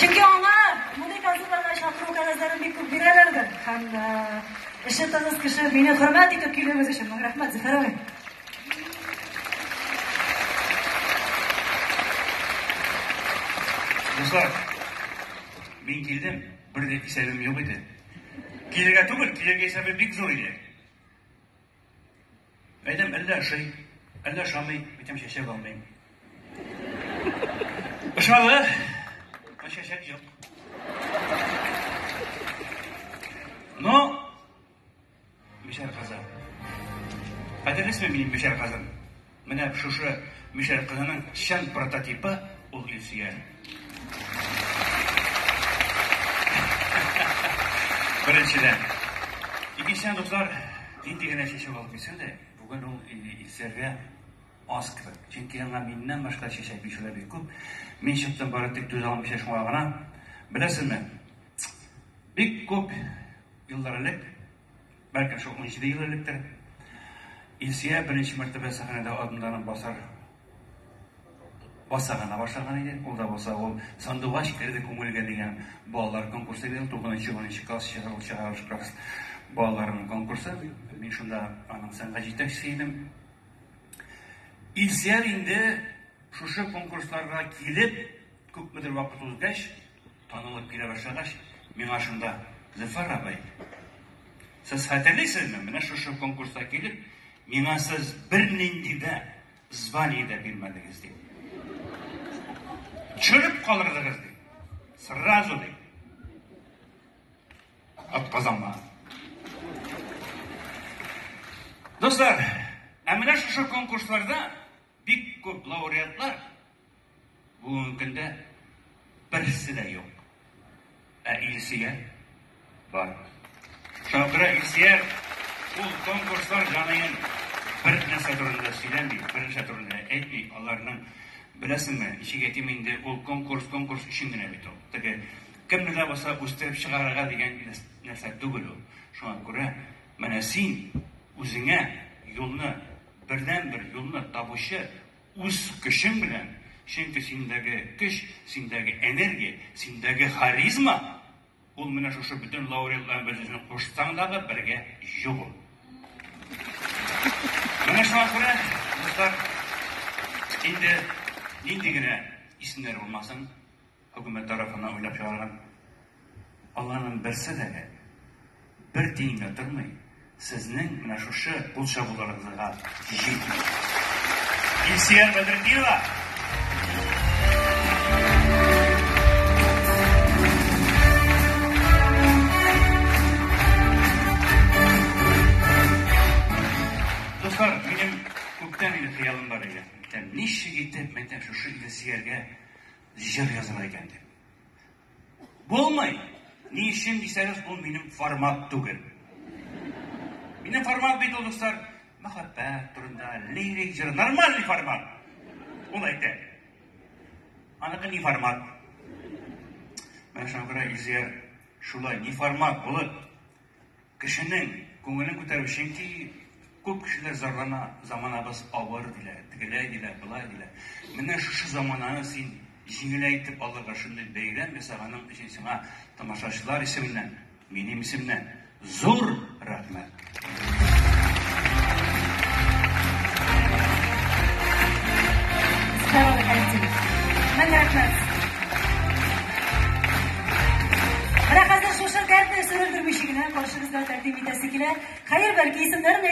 Чөнки аңа мондый концертларга чакыру кәгазьләрен бик күп бирәләрдер. Һәм эше тыныч кеше мине хөрмәт итеп килүегез өчен мең рәхмәт, Зөфәр абый. Дуслар, мин килдем, бер дә исәбем юк иде. Килергә түгел, килергә исәбе бик зур иде. Әйдәм әллә ашый, әллә ашамый, әйтәм чәчәк алмыйм. Ышалы, ә чәчәк юк. Но, бишәр казан. Хәтерлисезме минем бишәр казан? Менә шушы мишәр кызының чын прототипы ул Илсөяр. Беренчедән. Икенчедән, дуслар, нинди генә чәчәк алып килсәң дә, бүген ул Илсөяргә аз кебек. Чөнки аңа миннән башка чәчәк бирүчеләр бик күп. Мин чыктым бары тик түзә алмыйча шуңа гына. Беләсезме, бик күп еллар элек Бәлкем шул унҗиде ел электер. Илсөя беренче мәртәбә сәхнәдә адымнарын басар баса гына башлаган иде. Ул да булса ул сандугач керде күңелгә дигән балалар конкурсы быел тугызынчы унынчы класс чыгарылыш чыгарылыш класс балаларының конкурсы. Мин шунда аның сәнгать җитәкчесе идем. Илсияр инде шушы конкурсларга килеп күпмедер вакыт узгач Танылып килә башлагач, миңа шунда, Зөфәр абый, сез хәтерлисезме, менә шушы конкурста килеп, миңа сез бернинди дә звание дә бирмәдегез, ди. Чөлеп калырдыгыз, ди. Сразу, ди. Отказанма. Дуслар, ә менә шушы конкурсларда бик күп лауреатлар Бүгенге көндә берсе дә юк. Ә Илсөя бар. Шуңа күрә Илсөя ул конкурслар җаныен бер нәрсә турында да сөйләми, бер нәрсә турында да әйтми. Аларның беләсеңме, ничек әйтим инде, ул конкурс, конкурс өчен генә бит ул. Теге кемне дә булса үстереп чыгарырга дигән нәрсә түгел ул. Шуңа күрә менә син үзеңә юлны, бердәнбер юлны табучы Үз көчең белән, чөнки синдәге көч, синдәге энергия, синдәге харизма, ул менә шушы бөтен лауреатларның берсен кушсаң дагы бергә юк ул. Менә шуңа күрә, дуслар, инде нинди генә исемнәр булмасын, Хөкүмәт тарафыннан уйлап чыгарган аларның берсе дә бер тиенгә тормый, сезнең менә шушы кул чабуларыгызга җитми. Илсөяр Бәдретдинова! Дуслар, минем күптән инде хыялым бар иде. Ничек итеп, мәйтәм, шушы Илсөяргә Җыр языла икән дип. Булмый! Ни өчен дисәгез, бу минем формат түгел. Минем формат бит ул, дуслар, мәхәббәт турында, лирик җыр, нормальный формат. Ул әйтә. Аныкы ни формат? Менә шуңа күрә Илзия шулай, ни формат булып, Кешенең күңелен күтәрү, чөнки күп кешеләр зарлана, заманабыз авыр диләр, тегеләй диләр, болай диләр. Менә шушы замананы син җиңеләйтеп алырга шундый бәйрәм ясаганың өчен сиңа тамашачылар исеменнән, минем исемнән зур рәхмәт! Сау бул, Хәсин! Мең рәхмәт! Менә хәзер шушы кәртә сүрелдермичә генә каршыгызда тәкъдим итәсе килә. Хәер, бәлки исемнәрен